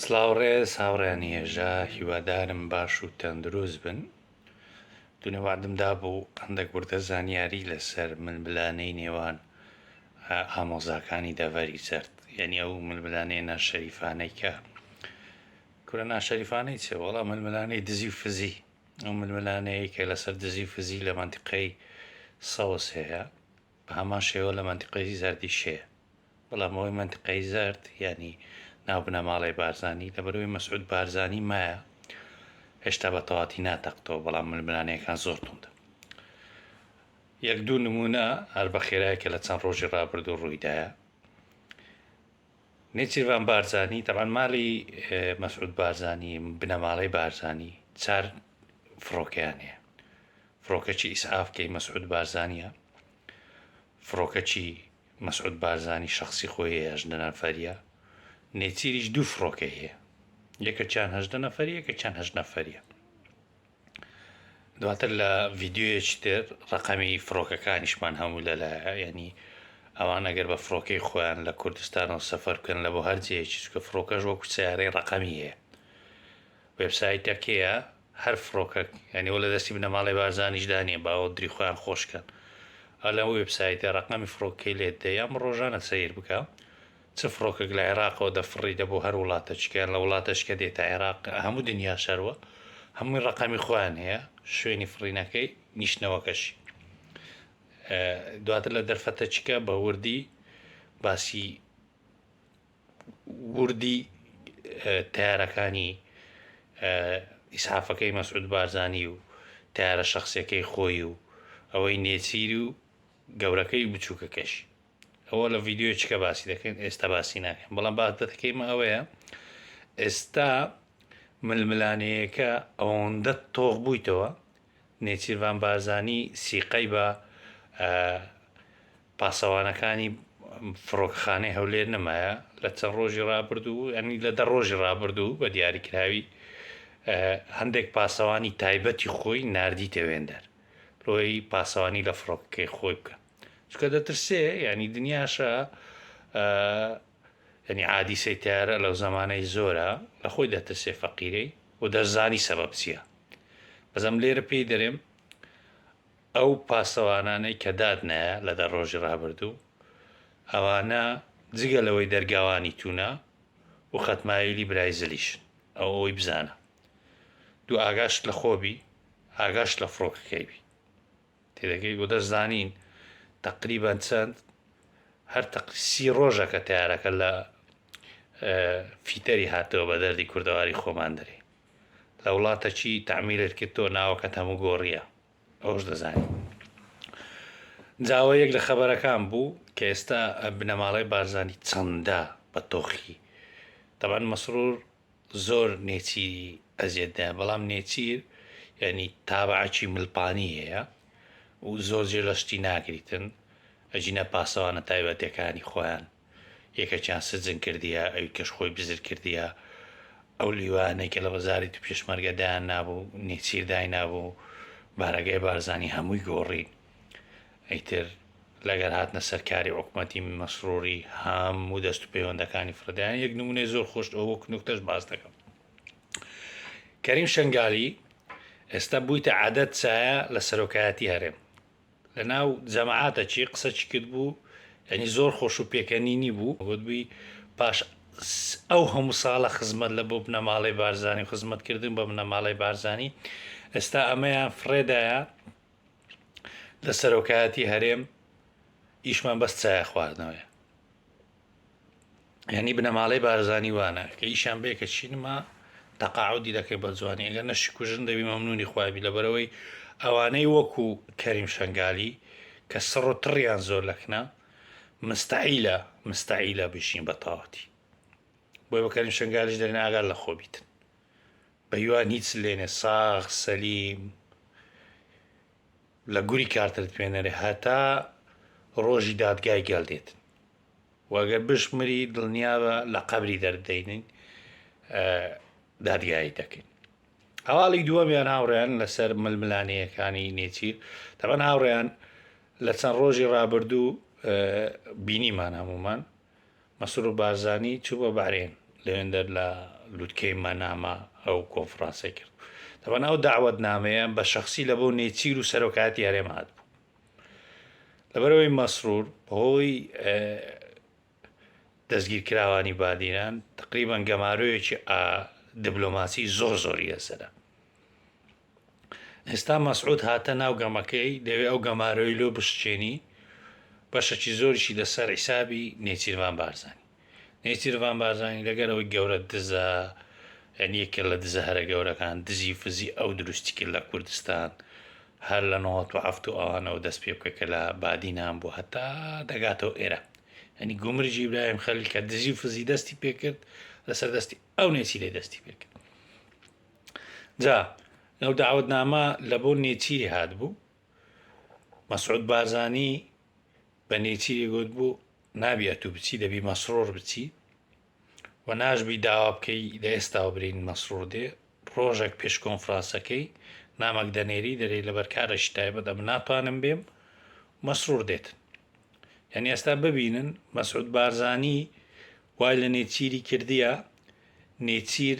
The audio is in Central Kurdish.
سڵاو ڕێز هاوڕێیانی هێژا هیوادارم باش و تەندروست بن دونێ وەعدم دابوو هەندێک وردە زانیاری لەسەر ململانێی نێوان ئامۆزاکانی دەڤەری زەرد یعنی ئەو ململانێ ناشەریفانەی کە کورە ناشەریفانەی چێ وەڵا ململانەی دزی و فزی ئەو ململانەیە کە لەسەر دزی و فزی لە مەنتیقەی سەوز هەیە بە هەمان شێوە لە مەنتیقەی زەردیش هەیە بەڵام ئەوەی مەنتقەی زەرد یانی ناو بنەماڵەی بارزانی لەبەرەوەی مەسعود بارزانی مایە هێشتا بە تەواتی ناتەقتەوە بەڵام ململانێکان زۆر توندە یەک دوو نمونە هەر بە خێرایەکە لە چەند ڕۆژی ڕابردوو ڕوویدایە نێچیرڤان بارزانی تەبان مالی مەسعود بارزانی بنەماڵەی بارزانی چار فڕۆکەیان هەیە فڕۆکەچی ئیسعافکەی مەسعود بارزانە فڕۆکەچی مەسعود بارزانی شەخسی خۆی هەیە هەژدە نەفەریە نێچیریش دوو فڕۆکەی هەیە یەکەکیان هەژدە نەفەری یەکەکیان هەژ نەفەریە دواتر لە ڤیددیوەیەکی تر ڕقەمی فڕۆکەکانیشمان هەموو لەلایە ینی ئەوان ئەگەر بە فڕۆکەی خۆیان لە کوردستانەوە سەفەر بکەن لە بۆ هەرجەیەکی چکە فڕۆکەش وەکو سیارەی ڕقەمی هەیە وبسایتەکەیە هەر فڕۆکەک یانی وە لەدەستی بنەماڵەی بارزانیش دا نیە با دری خۆیان خۆش کەن ئا لەم وێب سایتە ڕەقەمی فڕۆکەکەی لێت دە یان ڕۆژانە سەیر بکە چ فڕۆکەک لە عێراقەوە دە فڕی دە بۆ هەر وڵاتە چکە لە وڵاتەش کە دێتە عێراق هەموو دنیا شەروە هەمووی ڕەقەمی خۆیان هەیە شوێنی فڕینەکەی نیشتنەوەکەشی دواتر لە دەرفەتە چکە بە وردی باسی وردی تەیارەکانی ئیسعافەکەی مەسعود بارزانی و تەیارە شخصیەکەی خۆی و ئەوەی نێچیر و گەورەکەی و بچووکەکەش ئەوە لە ڤیددیوی چکە باسی دەکەین ئێستا باسی ناکەین بەڵام باس دەکەیمە ئەوەیە ئێستا ململانەیەکە ئەوەندە تۆخ بوویتەوە نێچیرڤان بارزانی سیقەی بە پاسەوانەکانی فڕۆکەخانەی هەولێر نەمایە لە چەند ڕۆژی ڕابردوو ئەنی لە دە ڕۆژی ڕابردوو بە دیاریکراوی هەندێک پاسەوانی تایبەتی خۆی نردیتە وێندەر لۆی پاسەوانی لە فڕۆکەکەی خۆی بکە چکە دەترسێ ینی دنیاشە ینی عادیسەی تارە لەو زمانەی زۆرە لە خۆی دەترسێ فەقیرەی و دەزانی سەبەب چییە بەزەم لێرە پێی دەرێم ئەو پاسەوانانەی کە دادنایە لە دە ڕۆژی ڕابردوو، ئەوانە جگە لەوەی دەرگاوانی توونە و خەتمایلی برای زلیشن، ئەو ئەوەی بزانە، دوو ئاگاشت لە خۆ بی، ئاگاشت لە فڕۆکەکەی بی. تێدەگەی؟ و دەشزانین تەقریبەن چەند، هەر تەق سی ڕۆژە کە تەیارەکە لە فیتەری هاتەوە بە دەردی کوردەواری خۆمان دەرێی. لە وڵاتەکی تەعمیرت کرد تۆ ناوەکەت هەموو گۆڕییە. ئەوەش دەزانین جا ئەوە یەک لە خەبەرەکان بوو کە ئێستا بنەماڵەی بارزانی چەندە بە تۆخی تەبەن مەسرور زۆر نێچیری ئەزیێتدایە بەڵام نێچیر یعنی تابعکی ملپانی هەیە و زۆر جێ لەشتی ناگریتن ئەجینا پاسەوانە تایبەتەکانی خۆیان یەکەکیان سجن کردیە ئەویکەش خۆی بزر کردیە ئەو لیوانەی کە لە وەزاری تو پێشمەرگە دایان نابوو نێچیر داینابوو بارەگای بارزانی هەمووی گۆڕین ئەیتر لەگەر هاتنە سەرکاری عکومەتی مەسروری هەموو دەست و پەیوەندەکانی فرەدایان یەک نمونەی زۆر خۆشت ئەو وەک نوکتەش باس دەکەم کەریم شنگالی ئێستا بوویتە عادەت سایە لە سەرۆکایەتی هەرێم لەناو جەماعەتە چی قسە چی کرد بوو یعنی زۆر خۆش و پێکەنینی بوو گوتبووی پاش ئەو هەموو ساڵە خزمەت لە بۆ بنەماڵەی بارزانانی خزمەتکردن بە بنەماڵەی بارزانانی ئێستا ئەمەیان فڕێدایە لە سەرۆکایەتی هەرێم ئیشمان بەس چایە خواردنەوەیە یعنی بنەماڵەی بارزانی وانە کە ئیشان بێ کە چینما تەقاعودی دەکەی بە جوانی ئەگەر نە شکوژن دەبی مەمنونی خوابی لەبەرەوەی ئەوانەی وەکو کەریم شنگالی کە سڕ و تڕیان زۆر لەکنە مستعیلە مستعیلە بژین بە تەواتی بۆی بەکەریم شنگالیش دەرێن ئاگار لە خۆ بیتن بە یوان هیچ لێنێ ساغ سەلیم لە گوری کارتر توێنەرێ هەتا ڕۆژی دادگای گەل دێت و ئەگەر بشمری دڵنیابە لە قەبری دەردەینین دادگایی دەکەین هەواڵی دووەمیان هاوڕێیان لەسەر ململانەیەەکانی نێچیر تەبەن هاوڕێیان لە چەند ڕۆژی ڕابردوو بینیمان هەمومان مەسرور بارزانی چوو بۆ بەحرێن، لەوێندەر لە لوتکەی مەناما ئەو کۆنفرانسەی کرد. تەبەن ئەو دەعوەتنامەیە بە شەخسی لە بۆ نێچیر و سەرۆکایەتی هەرێم هاتبوو. لەبەرەوەی مەسرور بەهۆی دەستگیرکراوانی بادینان تەقریبەن گەمارۆیەکی دبلۆماسی زۆر زۆری لەسەرە. ئێستا مەسعود هاتە ناو گەمەکەی دەوێ ئەو گەمارۆی لۆ بشکێنی بەشەکی زۆریشی لەسەر حیسابی نێچیرڤان بارزانی نێچیرڤان بارزانی لەگەر ئەوەی گەورە دزە یعنی یەکێ لە دزە هەرە گەورەکان دزی فزی ئەو دروستی کرد لە کوردستان هەر لە نەوەت و هەفت و ئەوانەوە دەست پێ بکە کە لە بادینان بوو هەتا دەگاتەوە ئێرە ئەنی گومرجی ئیبراهیم خەلیل کە دزی فزی دەستی پێکرد لەسەر دەستی ئەو نێچیرەی دەستی پێکرد جا لەو دەعوەتنامە لە بۆ نێچیری هاتبوو، مەسعود بارزانی بە نێچیری گوتبوو نابی ئەتوو بچی دەبی مەسرور بچی و ناشبی داوا بکەی لە ئێستاوە برین مەسرور دێ ڕۆژێک پێش کۆنفرانسەکەی نامەک دەنێری دەرێ لە بەرکارەشی تایبەت ئەم ناتوانم بێم مەسرور دێت یعنی ئێستا ببینن مەسعود بارزانی وای لە نێچیری کردیە نێچیر